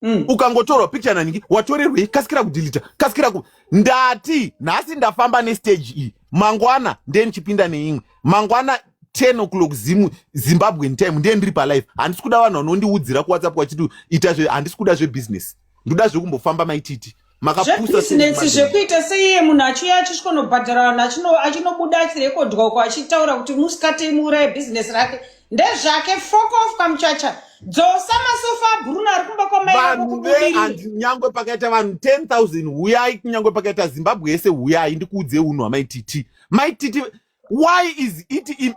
Mm. ukangotorwa picture nanhingi watorerwei kasikira kudhilita kasikira ku ndati nhasi ndafamba nestage iyi mangwana ndiye ndichipinda neimwe mangwana 10 o'clock zimu zimbabwean time ndiye ndiri palife handisi kuda vanhu vanondiudzira kuwhatsapp vachiti ita zve handisi kuda zvebusiness ndoda zvekumbofamba maititi makapusasinetsi zvekuita seiye munhu achiuya achisvikonobhadhara vanhu achino achinobuda achirekodwa uko achitaura kuti musikati imuuraye bhizinesi rake ndezvake fok of kamuchacha dzosa masofa abruno ari kumba kwamaiaandi nyangwe pakaita vanhu 10000 huyai kunyangwe pakaita zimbabwe yese huyai ndikuudze unhu hamaititi maititi why is it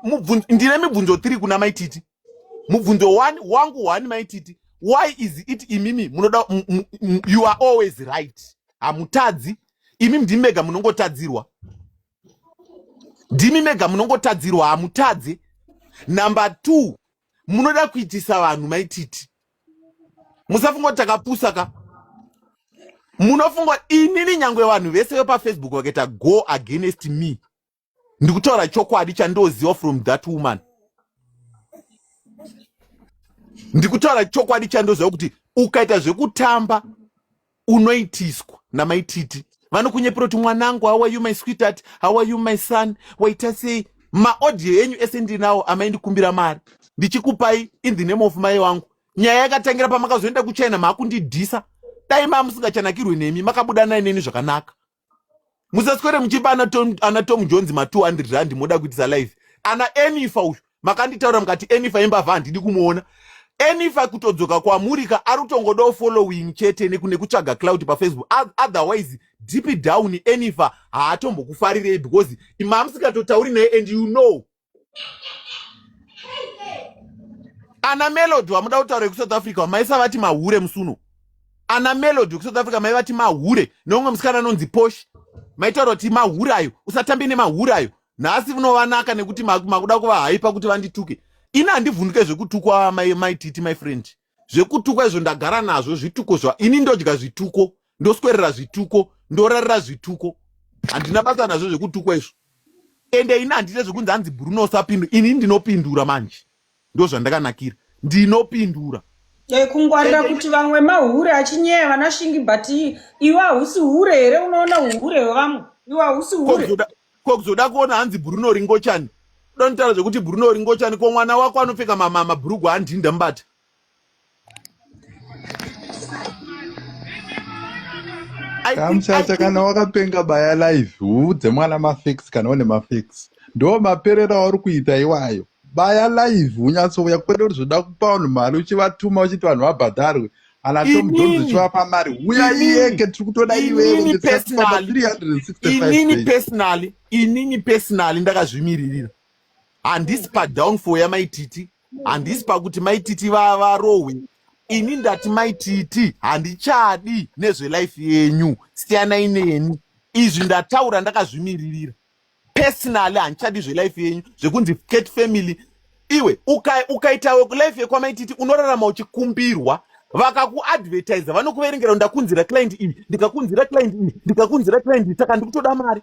ndine mibvunzo tiri kuna maititi mubvunzo wani wangu wani maititi why is it imimi munoda you are always right hamutadzi imimi ndimi mega munongotadzirwa ndimi mega munongotadzirwa hamutadze number two munoda kuitisa vanhu maititi musafunga kuti takapusa ka munofunga inini nyangwe vanhu vese vepafacebook vakaita go against me ndikutaura chokwadi chandoziva from that woman ndikutaura chokwadi chandoziva kuti ukaita zvekutamba unoitiswa namaititi vanokunyepera kuti mwanangu how are you my sweetheart how are you my son waita sei maaudio enyu ese ndinawo amaindikumbira mari ndichikupai in the name of mai wangu nyaya yakatangira pamakazoenda kuchina maakundidhisa dai maa musingachanakirwe nemi makabuda nai neni zvakanaka musaswere muchipa ana tom jones ma 200 rand moda kuitisa live ana enifa uyu makanditaura mukati enifa yembavha handidi kumuona enifa kutodzoka kwamurika ari kutongodawo following chete nekune kutsvaga cloud pafacebook otherwise deep down enifa haatombokufarirei because imamusingatotauri naye and you know ana melody wamuda kutaura yekusouth africa wamaisa vati mahure musuno ana melody wekusouth africa mai vati mahure neumwe musikana anonzi posh maitaura kuti mahure ayo usatambe nemahure ayo nhasi unovanaka nekuti makuda kuvahaipa kuti vandituke ini handivhunduke zvekutukwa maititi my friend zvekutukwa izvo ndagara nazvo zvituko zva ini ndodya zvituko ndoswerera zvituko ndorarira zvituko handina basa nazvo zvekutukwa izvo ende ini handite zvekunzi hanzi bruno usapindura ini ndinopindura manje ndo zvandakanakira ndinopindura e, kungwarira kuti vamwe mahure achinyeya vanashingi but iwe hausi hure here unoona uhure hwevamwe iwe hausi hure ko kuzoda kuona hanzi bruno ringochani donotara zvekuti bruno ringochani ko mwana wako anopfeka mabhurugwa andinda mubata kamuchacha kana wakapenga baya live uudze mwana mafix kana une mafix ndo maperera auri kuita iwayo baya live unyatsouya kwedu uri zvoda kupa vanhu mari uchivatuma uchiti vanhu vabhadharwe anatomudzonzichiwapa mari huyaieke tiri kutoda iwewe personally inini personally ndakazvimiririra handisi padownfall yamaititi handisi pakuti maititi vavarohwe ini ndati maititi handichadi nezvelife yenyu siyanai neni izvi ndataura ndakazvimiririra personally handichadi zvelife yenyu zvekunzi cat family iwe ukaitawe uka life yekwamaititi unorarama uchikumbirwa vakakuadvertisa vanokuverengera ndakunzira client iyi ndikakunzira client iyi ndikakunzira client iyi saka ndikutoda mari